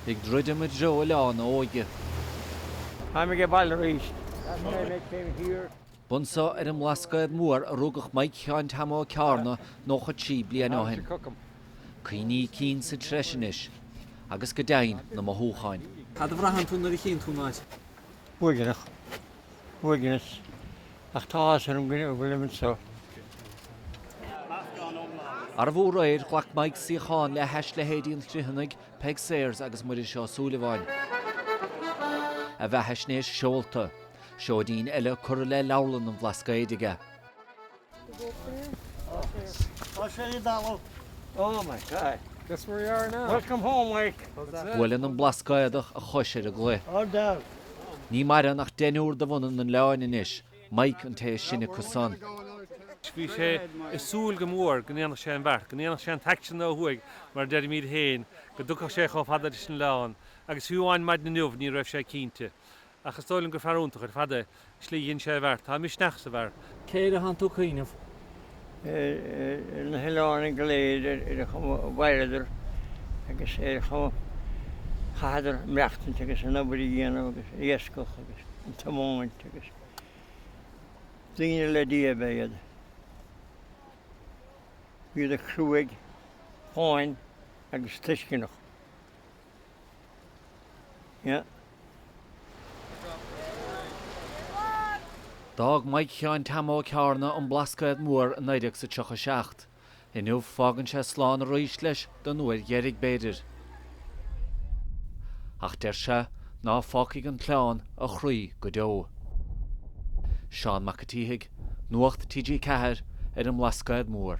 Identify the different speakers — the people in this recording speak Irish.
Speaker 1: Ag druidim i dtreo oileán a
Speaker 2: óige. Táim ag baile arís.
Speaker 1: B'anseo ar an mBlascaod Mór a rugadh Maidhc Sheáin Team Ó Ceárna 93 bliain ó shin. Cuimhní cinn sa treis anois, agus go deimhin na mothúcháin. Cad a bhraitheann tú nuair
Speaker 3: a chíonn tú an áit? Buaidhreadh.
Speaker 2: uaigneas, ach tá áthas orm go bhfuilim
Speaker 1: anseo. Arbh fhiú réir? Ghlac Maidhc suíochán le hais leithéidí an Chriomhthanaigh, Peig Sayers agus Muiris Ó Súilleabháin. A bheathaisnéis seolta. Seoidín eile curtha le leabharlann an Bhlascaoid aige.
Speaker 2: Buaileann an
Speaker 1: Blascaodach a chois ar an gcloich.
Speaker 2: Ní mhaireann
Speaker 1: ach deichniúr de bhunadh an oileáin anois, Maidhc an té is sine acu san.
Speaker 4: Bhí sé ag súil go mór go ndéanfadh sé an bheart, go ndéanfadh sé an t-aicsean san ó thuaidh mar a deirimid féin, go dtiocfadh sé chomh fada leis an oileán, agus fiú amháin maidin inniu ní raibh sé cinnte. Ach is dóigh liom gur fear iontach ar fad an tslí a dhein sé an bheart. Tá misneach sa bhfear. Cé air a tánn
Speaker 3: tú ag cuimhneamh? Ar
Speaker 2: na hoileánaigh go léir ar conas a mhaireadar agus ar conas a chaitheadar maireachtaint agus an obair a dhéanamh agus an iascach agus an tiomáint agus. Daoine le Dia ab ea iad. Bhíodar cruaidh, fáin agus tuisceanach.
Speaker 1: D'fhág Maidhc Sheáin Team Ó Ceárna an Blascaod Mór i naoi déag 37. Inniu fágann sé slán arís leis, don uair dheiridh b'fhéidir. Ach deir sé ná fágfaidh an t-oileán a chroí go deo. Seán Mac a tSíthigh, Nuacht TG4 ar an mBlascaod Mór.